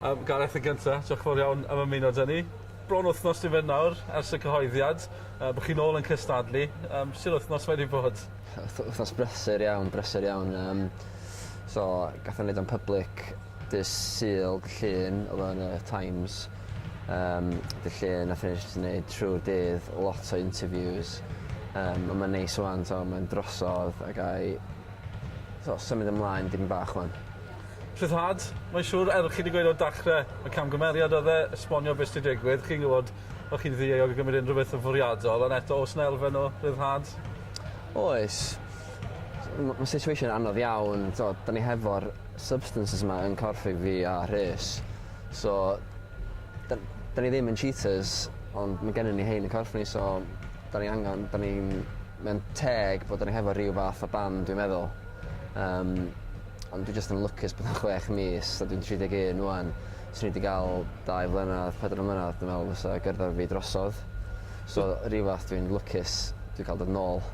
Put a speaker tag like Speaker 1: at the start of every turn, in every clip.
Speaker 1: Yym, Gareth, yn gynta, diolch yn fawr iawn am ymuno 'da ni. Bron wythnos yw fe nawr ers y cyhoeddiad yy bo' chi nôl yn cystadlu. Yym, sut wythnos mae 'di bod? Wth- wythnos
Speaker 2: brysur iawn brysur iawn yym so gath o neud o'n public dy' Sul, dy' Llun odd o yn y Times yym dy' Llun nathon ni jst neud trw'r dydd lot o interviews yym on' ma'n neis ŵan t'o' ma'n drosodd a gai t'o' symud ymlaen dipyn bach ŵan. Rhyddhad,
Speaker 1: mae'n siŵr, er chi 'di gweud o'r dachre, y camgymeriad oedd e, esbonio be sy 'di digwydd, chi'n gwbod, fel chi'n ddieuog o gymryd unrhyw beth yn fwriadol, ond eto, oes 'na elfen o ryddhad? Oes.
Speaker 2: M- ma' situation anodd iawn, t'od, 'dan ni hefo'r substances 'ma yn corff i fi a Rhys, so 'dan 'dan ni ddim yn cheaters, ond ma' gennon ni 'hein yn corff ni, so 'dan ni angan, 'dan ni'n, mae'n teg bod 'dan ni hefo ryw fath o ban, dwi'n meddwl. Um, ond dwi jyst yn lwcus bod yn chwech mis, a dwi'n 31 rwan. Swn i wedi cael dau flynedd, pedwar mlynedd, dwi'n meddwl, fysa gyrddor fi drosodd. So, rhyw fath dwi'n lwcus, dwi'n cael dod nôl.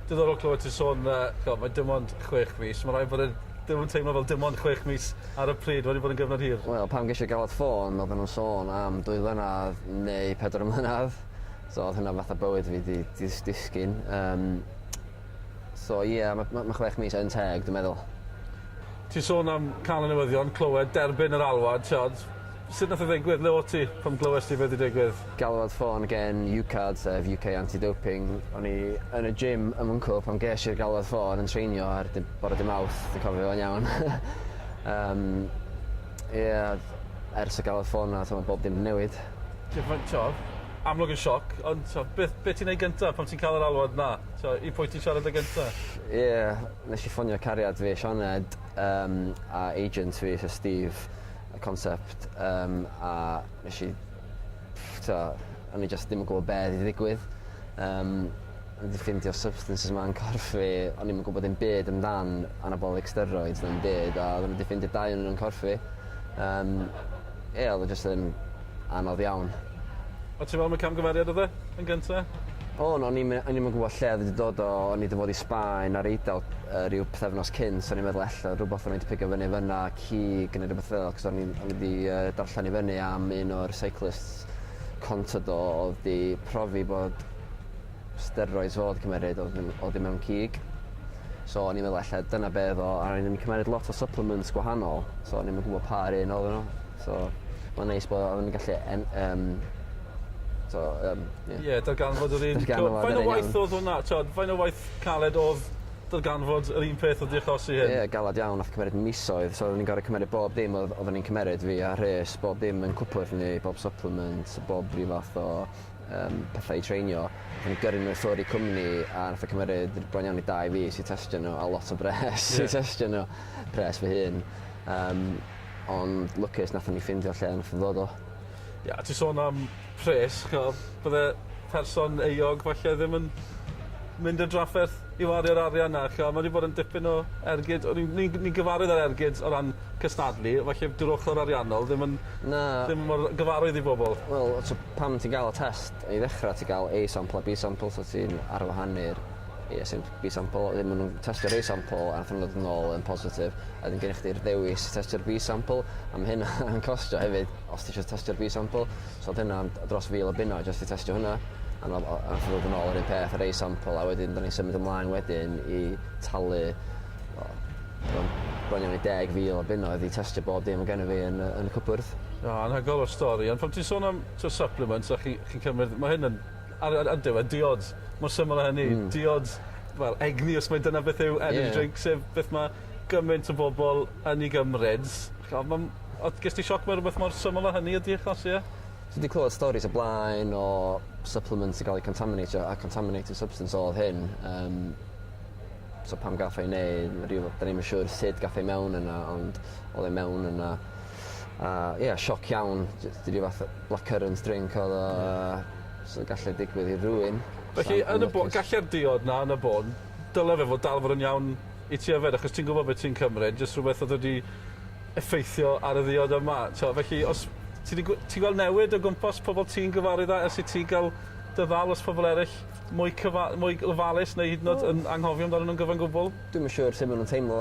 Speaker 2: Diddorol clywed
Speaker 1: ti'n sôn, uh, mae dim ond chwech mis. Mae rhaid bod yn e ddim yn teimlo fel dim ond chwech mis ar y pryd, wedi bod yn gyfnod hir. Wel, pam geisio galwad ffôn,
Speaker 2: oedden nhw'n sôn am dwy flynedd neu pedwar mlynedd. So, oedd hynna fatha bywyd fi di, di disgyn. Um, So ie ma' ma' ma' chwech mis yn teg dwi meddwl. Ti'n
Speaker 1: sôn am cân y newyddion, clywed, derbyn yr alwad, t'od, sut nath e ddigwydd, le o't ti pan glywes di be' 'di digwydd? Galwad ffôn gen
Speaker 2: UKAD sef UK Anti Doping, o'n i yn y gym ym Mwnco pan gesh i'r galwad ffôn yn treinio ar dy- bore dy' Mawrth dwi'n cofio fo'n iawn yym ie o'dd ers y galwad ffôn 'na t'mo' bob dim 'di newid. T'mod amlwg yn sioc
Speaker 1: ond t'o' beth be' ti'n neud gynta pan ti'n ca'l yr alwad 'na? So i pwy ti siarad â gynta? Ll- ie nesh i
Speaker 2: ffonio cariad fi Sioned yym a agent fi sy Steve y concept yym a nesh i ff- t'o' o'n i jyst dim yn gwbo be' odd 'di ddigwydd yym o'n i 'di ffindio substances 'ma yn corff fi o'n i'm yn gwbod dim byd amdan anabolic steroids na 'im byd a odden n'w 'di ffindio dau o n'w yn corff fi yym ie odd o jyst yn anodd iawn. O't ti'n me'wl am y
Speaker 1: camgymeriad odd e? Yn gynta? O no o'n i'm yy
Speaker 2: o'n i'm yn gwbo lle o'dd 'i 'di dod o o'n i 'di bod i Sbaen a'r Eidal yy ryw pythefnos cynt so o'n i'n meddwl ella rwbath o'n i 'di pigo fyny fyn 'na cig ne' rwbeth fel 'c'os o'n i'n o'n i 'di yy darllan i fyny am un o'r seiclists Contador odd 'di profi bod steroids fo odd cymeryd odd yn odd e mewn cig so o'n i'n meddwl ella dyna be' odd o a o'n i'n cymeryd lot o supplements gwahanol so o'n i'm yn gwbo pa un oddon n'w. So ma'n neis bo' yn gallu en- yym so yym ie.
Speaker 1: Ie darganfod yr un... Darganfod yr un iawn. Faint o waith odd hwnna t'od faint o waith caled odd darganfod yr un peth odd 'di achosi hyn? Ie galad iawn nath cymryd
Speaker 2: misoedd so odden ni'n gor'o' cymeru bob dim odd odden ni'n cymeryd fi a Rhys bob dim yn cwpwrdd ni bob supplement bob ryw fath o yym petha i treinio a ni gyrru n'w i ffwr i cwmni a nath e cymeryd r- bron iawn i dau fis i testio n'w a lot o bres... Ie. ...i testio n'w. Pres fy hun. Yym. Ond lwcus nathon ni ffindio lle nath o ddod o. Ie a ti sôn
Speaker 1: am pres ch'mo' bydde person euog falle ddim yn mynd i'r drafferth i wario'r arian 'na ch'mo' ma' 'di bod yn dipyn o ergyd o'n i'n ni'n ni'n gyfarwydd â'r ergyd o ran cystadlu felly 'dyw'r ochor ariannol ddim yn... Na. ...ddim mor gyfarwydd i bobol. Wel o t'o' pan
Speaker 2: ti'n ga'l y test i ddechra ti ga'l A sample a Bee sample so ti'n arwahanu'r Ay a symp- Y sampl a maen nhw'n testio'r A sampl a wnaethon nhw ddod yn ôl yn positif a wedyn gennych chdi'r ddewis i testio'r Bee sampl a ma' hynna yn costio hefyd os ti isio testio'r Bee sampl so odd hynna yn d- dros fil o bunnoedd jyst i testio hwnna a ma' o- a nath o ddod yn ôl yr un peth yr A sampl a wedyn 'dan ni'n symud ymlaen wedyn i talu o t'mod bron iawn i deg fil o bunnoedd i testio bob dim o' gennyf fi yn y yn y cwpwrdd. Na, anhygoel o stori,
Speaker 1: ond pan ti'n sôn am t'o' supplements a chi chi'n cymryd, ma' hyn yn Ar y y diwedd diod. Mor syml â hynny. Hmm. Diod wel egni os mai dyna beth yw energy drink. Ie. Sef beth ma' gyment o bobol yn 'i gymryd. Ch'od ma'n o- ges di sioc mewn rwbeth mor syml â hynny ydi achos ie? Ti 'di clywed storis
Speaker 2: o blaen o supplements sy ga'l eu contaminateio a contaminated substance odd hyn yym so pam gath o ei neu- ryw 'dan ni'm yn siŵr sud gath e mewn yna ond odd e mewn yna. a ie sioc iawn j- js ryw fath o blackcurrant drink odd o a so galle digwydd i rywun. Felly yn y bo-
Speaker 1: galle'r diod 'na yn y bôn dyle fe fod dal fod yn iawn i ti yfed achos ti'n gwbod be' ti'n cymryd jyst rhwbeth odd wedi effeithio ar y ddiod yma t'o' felly os ti 'di gw- ti'n gweld newid o gwmpas pobol ti'n gyfarwydd â ers i ti ga'l dy ddal o's pobol eryll mwy cyfa- mwy ofalus neu hyd yn o'd yn anghofio amdanyn nw'n gyfan gwbwl? Dwi'm yn siŵr sut ma' nw'n
Speaker 2: teimlo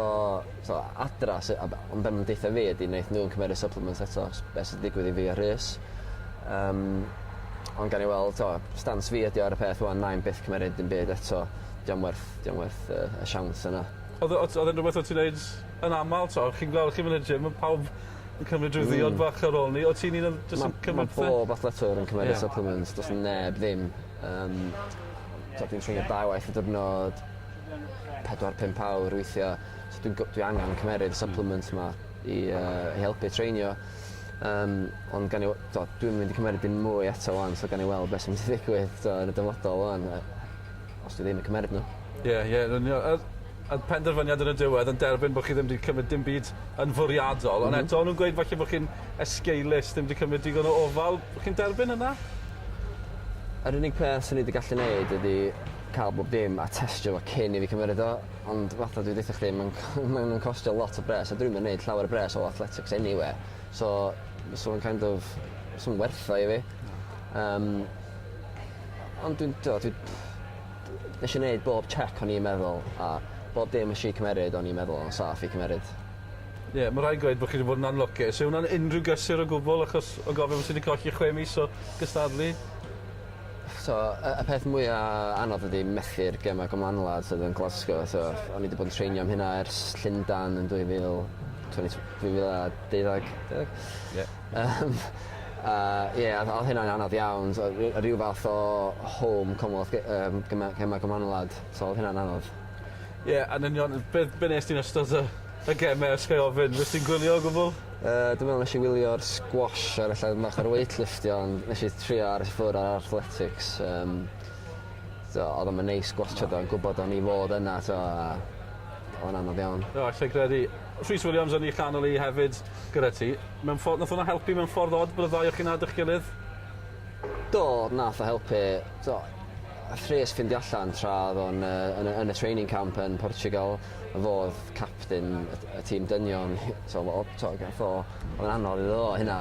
Speaker 2: t'o' adra sy a b- ond be' ma' nw'n deutho fi ydi neith n'w 'im cymeru supplements eto s- be' sy 'di digwydd i fi a Rhys. Yym ond gawn ni weld t'o' stans fi ydi o ar y peth ŵan 'nai 'im byth cymeryd dim byd eto 'di o'm werth 'di o'm werth y y siawns yna. Odd o odd odd e'n rwbeth
Speaker 1: o' ti'n neud yn amal t'o' chi'n gwel' chi myn' i'r gym ma' pawb yn cymryd ryw ddiod bach ar ôl 'ny o't ti'n un o'r jys yn cymryd pethe? Ma' ma' bob athletwr
Speaker 2: yn cymeru supplements do's neb ddim yym t'o' dwi'n treinio dau waith y diwrnod pedwar pump awr weithia so dwi'n go- dwi angan cymeryd y supplements 'ma i yy i helpu treinio yym ond gawn ni we- t'o' dwi'm mynd i cymeryd dim mwy eto 'wan so gawn ni weld be' sy'n myn' i ddigwydd t'o' yn y dyfodol 'wan yy os dwi ddim yn cymeryd n'w. Ie ie yn union a
Speaker 1: a'r penderfyniad yn y diwedd yn derbyn bo' chi ddim 'di cymryd dim byd yn fwriadol ond eto o'n nw'n gweud falle bo' chi'n esgeulus ddim 'di cymryd digon o ofal chi'n derbyn hwnna?
Speaker 2: Yr unig peth swn i 'di gallu neud ydi ca'l bob dim a testio fo cyn i fi cymeryd o ond fatha dwi deutho chdi ma'n c- ma' nw'n costio lot o bres a dwnim yn neud llawer o bres o athletics eniwe so fysa fo'n kind of fysa fo'm werth o i fi. Na. Yym. Ond dwi'n t'o' dwi dw- nesh i neud bob chec o'n i'n meddwl a bob dim nesh i cymeryd o'n i'n meddwl o'n saff i cymeryd. Ie ma'
Speaker 1: rai' gweud bo' chi 'di bod yn anlwcus. Yw wnna'n unrhyw gysur o gwbwl achos o gofio bo' ti 'di colli chwe mis o gystadlu?
Speaker 2: So y y peth mwya anodd ydi methu'r gema gymlanlad sydd yn Glasgo so o'n i 'di bod yn treinio am hynna ers Llundan yn dwy fil tweny tw- dwy fil a deuddag deg? Ie. Yym a ie a odd hynna'n anodd iawn so ry- ryw fath o home Commonwealth Ga- yym gema gema gymlanwlad so odd hynna'n anodd. Ie yn
Speaker 1: union yy be' be' nest ti yn ystod y y geme os ga'i ofyn? Nest ti gwylio o gwbwl? Yy dwi me'wl nesh i
Speaker 2: wylio'r squash ar y llawr fach a'r weight lifftio ond nesh i trio aros i ffwr' ar athletics yym t'o' odd o'm yn neis gwatsiad o yn gwbod o'n i fod yna t'o' a odd o'n anodd iawn. O allai gredu.
Speaker 1: Rhys Williams yn 'i chanol 'i hefyd gyda ti. Mewn ffor nath wnna helpu mewn ffordd od bod y ddau o chi'n nabod 'ych gilydd?
Speaker 2: Do nath o helpu t'o' A thres ffindio allan tra oedd o'n yy yn y training camp yn Portugal fodd capten y tîm dynion so o t'o' gath o o'dd o'n anodd iddo fo hynna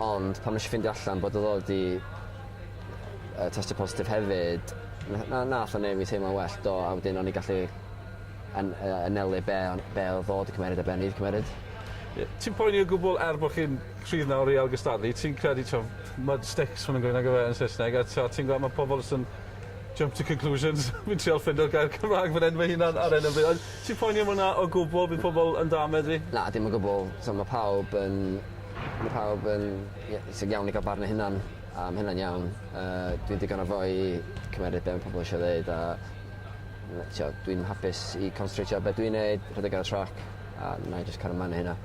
Speaker 2: ond pan nesh i ffindio allan bod o fod i yy testio positif hefyd na- na- nath o neu' fi teimlo'n well do a wedyn o'n i gallu an- yy anelu be' o'n be' odd o 'di cymeryd a be' o'n i 'di cymeryd. Ie. Ti'n poeni
Speaker 1: o gwbwl er bo' chi'n Rhydd nawr i ailgystadlu. Ti'n credu t'o' mud sticks ma' nw'n gweud nagyfe yn Saesneg a t'o' ti'n gwel' ma' pobol jys yn jump to conclusions fi'n trial ffindo'r gair Cymra'g fan 'yn fy hunan ar 'yn o bryd. Ond ti'n ffaindio ma' wnna o gwbwl bydd pobol yn dâl medru? Na dim o gwbwl.
Speaker 2: T'o' ma' pawb yn ma' pawb yn ie sy'n iawn i ga'l barn eu hunan a ma' hynna'n iawn. Yy dwi'n digon o foi i cymeryd be' ma' pobol isio ddeud a ma' t'o' dwi'n hapus i constratio ar be' dwi'n neud rhedeg ar y trac a 'nai jyst cario mlan â hynna.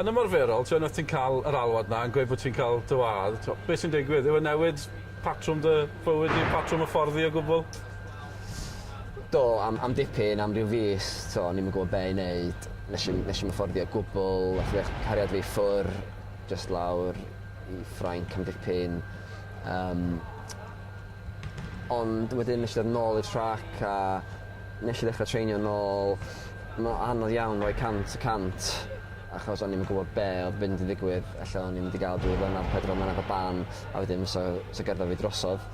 Speaker 2: Yn ymarferol
Speaker 1: t'wo' unwaith ti'n ca'l yr alwad 'na yn gweud bo' ti'n ca'l dy wadd t'wo' be' sy'n digwydd yw e newid patrwm dy bywyd di patrwm y ffordd di o gwbwl? Do
Speaker 2: am am dipyn am ryw fis t'wo' o'n i'm yn gwbo be' i neud nesh i'm nesh i'm yfforddio o gwbwl nath ddech- cariad fi ffwr' jyst lawr i Ffrainc am dipyn yym Ond wedyn nesh i ddod nôl i'r trac a nesh i ddechra treinio nôl. Ma' o anodd iawn roi cant y cant achos o'n i'm yn gwbod be' odd mynd i ddigwydd ella o'n i mynd i ga'l dwy flynadd pedwar mlynadd o ban a wedyn fysa fysa gyrfa fi drosodd.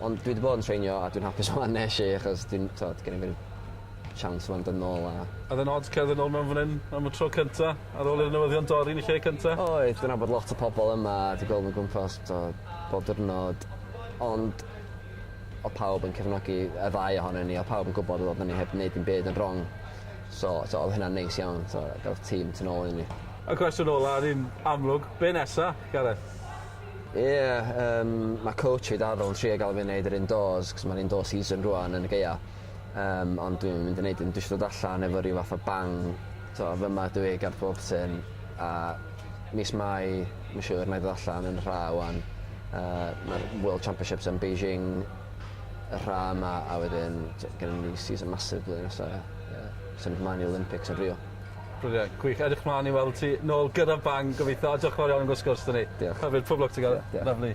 Speaker 2: Ond dwi 'di bod yn treinio a dwi'n hapus rŵan nesh i achos dwi'n t'od genno fi'r siawns rŵan dod nôl a Oedd e'n od cerdded
Speaker 1: nôl mewn fan 'yn am y tro cynta ar ôl i'r newyddion dorri yn y lle cynta? Oedd. Dwi nabod lot o
Speaker 2: pobol yma a dwi gweld nw'n gwmpas t'od bob diwrnod. Ond o' pawb yn cefnogi y ddau ohonon ni o' pawb yn gwbod oddan ni heb neud dim byd yn rong so t'o' odd hynna'n neis iawn t'o' ga'l tîm tu nôl i ni. Y cwestiwn ola yn
Speaker 1: un amlwg, be' nesa, Gareth? Ie yym
Speaker 2: ma' coach fi Daryl yn trio ga'l fi neud yr indoors 'c'os ma'r indoor season rŵan yn y gaea yym ond dwi'm yn mynd i neud dim dwi isio dod allan efo ryw fath o bang t'o' fy 'ma dw i ger pob tŷ a mis Mai ma' siŵr 'nai dod allan yn rha ŵan Yy ma'r World Championships yn Beijing y rha 'ma a wedyn t- gynno ni season massive blwyddyn nesa ia. Ia. Symud mlan i Olympics yn Rio. Brilliant. Gwych.
Speaker 1: Edrych mlan i weld ti nôl gyda'r band gobeitho a diolch yn fawr iawn am y sgwrs 'da ni. Diolch. Hyfryd pob lwc ti Gareth. Diolch. Lyfli.